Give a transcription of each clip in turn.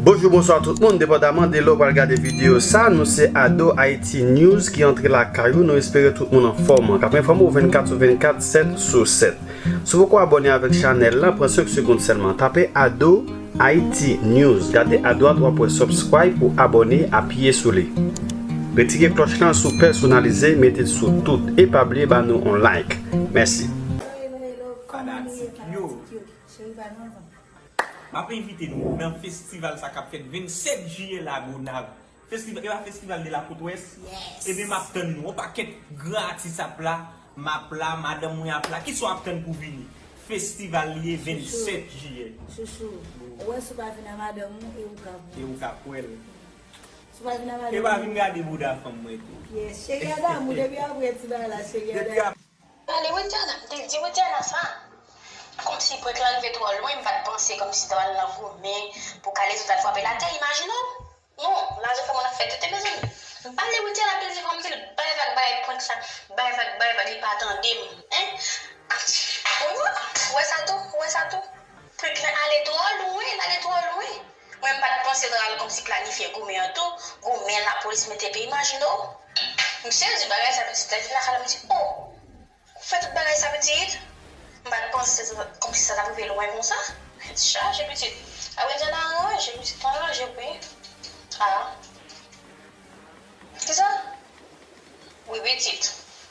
Bonjou bonswa tout moun, depandaman de lè w pral gade videyo sa, nou se Ado Ayiti News ki antre lakay ou, nou espere tout moun anfòm, k ap enfòme w 24 sou 24, 7 sou 7. Si w poko abòne avèk chanèl la, pran 5 segonn sèlman, tape Ado. Haïti News gade adwat wap wè subscribe ou abone apiye sou li retire klòch lan sou pèsonalize metel sou tout e pa bliye ba nou on like mèsi. Hello hello fanatik yo cheri pa nou anvan. Map envite nou nan festival sa kap fèt 27 jiyè lagonav Festival epa festival de la côte ouest ebyen map tann nou yon pakèt gran atis ap la map la madanm mwen ap la kisa wap tann pou vini festival li ye 27 jiyè. Chouchou ou wè si ou pa vin a madanm ou e ou ka pranl. E ou ka pranl. Si ou pa vin a madanm ou. Epa vin gade bouda fanm mwen tou. Yes cheri a damou depi aprè ti bagay la cheri a damou. Pale widiana m te di widiana sa komsi prank lan rive trò lwen m pat panse komsi ta pral nan goumen pou kalezo tal frapel atè imajine w non lajan sa moun ap fè tenten mezanmi m pale widiana m te di fòm dil bay vag bay prank sa bay vag bay vag li pa tandem hein ou wè sa tou ou wè sa tou prank lan ale trò lwen l ale trò lwen. Mwen m pat panse nan al konmsi planifye goumen an tou goumen la polis mete epi imajine w misye di bagay sa pitit lèl vin lakay la m di oh ou fè tout bagay sa pitit m pat panse konmsi sa tap rive lwen konsa tèt chaje pitit ap gen tan aranje pitit pran ranje wi ah kisa wi pitit.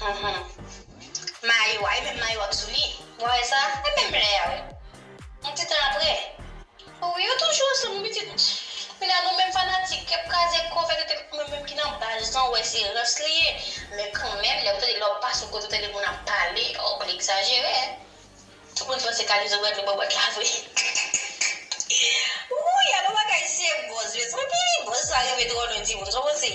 Hum mayo a e menm mayo a k sou li mwen wè sa e menm lè a wi yon ti tan aprè oh wi yo toujou ansanm wi pitit kounye a nou menm fanatik ki ap kraze kò fè tete mwen menm ki nan baz lan wè se rans li ye men kanmenm lè ou tande lè ou pase yon kote ou tande moun ap pale oh li egzajere tout moun panse kalezo pral dlo bò bòt la vre wouyy alon bagay se bòz mezanmi bòz sa rive trò lwen timoun sa w panse.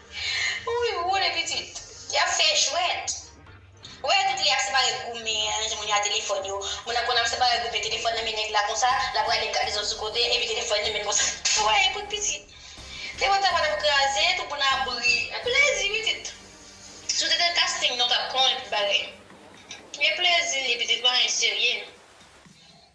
Ou wi woule pitit. Yap fè jwèt. Ou wè tout lè ap separe goumen an jwenn moun yo a telefòn yo moun nan konn ap separe goumen telefòn nan men nèg la konsa lap rale gade zòt sou kote epi telefòn li menm konsa ou wè e kout pitit te wè ta patap kraze tout moun ap ri e plezi pitit si w te nan casting nan w tap konnen tout bagay e plezi li pitit pa anyen serye.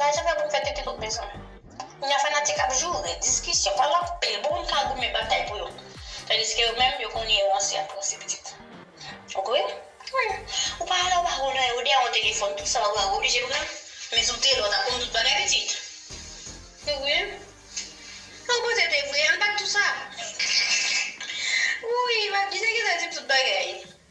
Lajan pa pou fè tete tout bezwen. Kounya fanatik ap joure, diskisyon, pale anpil pou moun ka goumen batay pou yo. Tandiske yo menm yo konnen yo ranse ap ranse pitit. Ok wi. Wi. Ou pa ale ou pa konnen ou dèyè yon telefòn tout sa ou wè ou oblije pran. Men si w te la ou tap konn tout bagay pitit. Ou wi. Ou pran tete vre, ann bat tout sa. Wouyy, map di nèg yo ta di m tout bagay.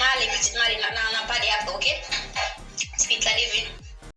Male pitit male nan pale aprè ok. Ti pit la li vin.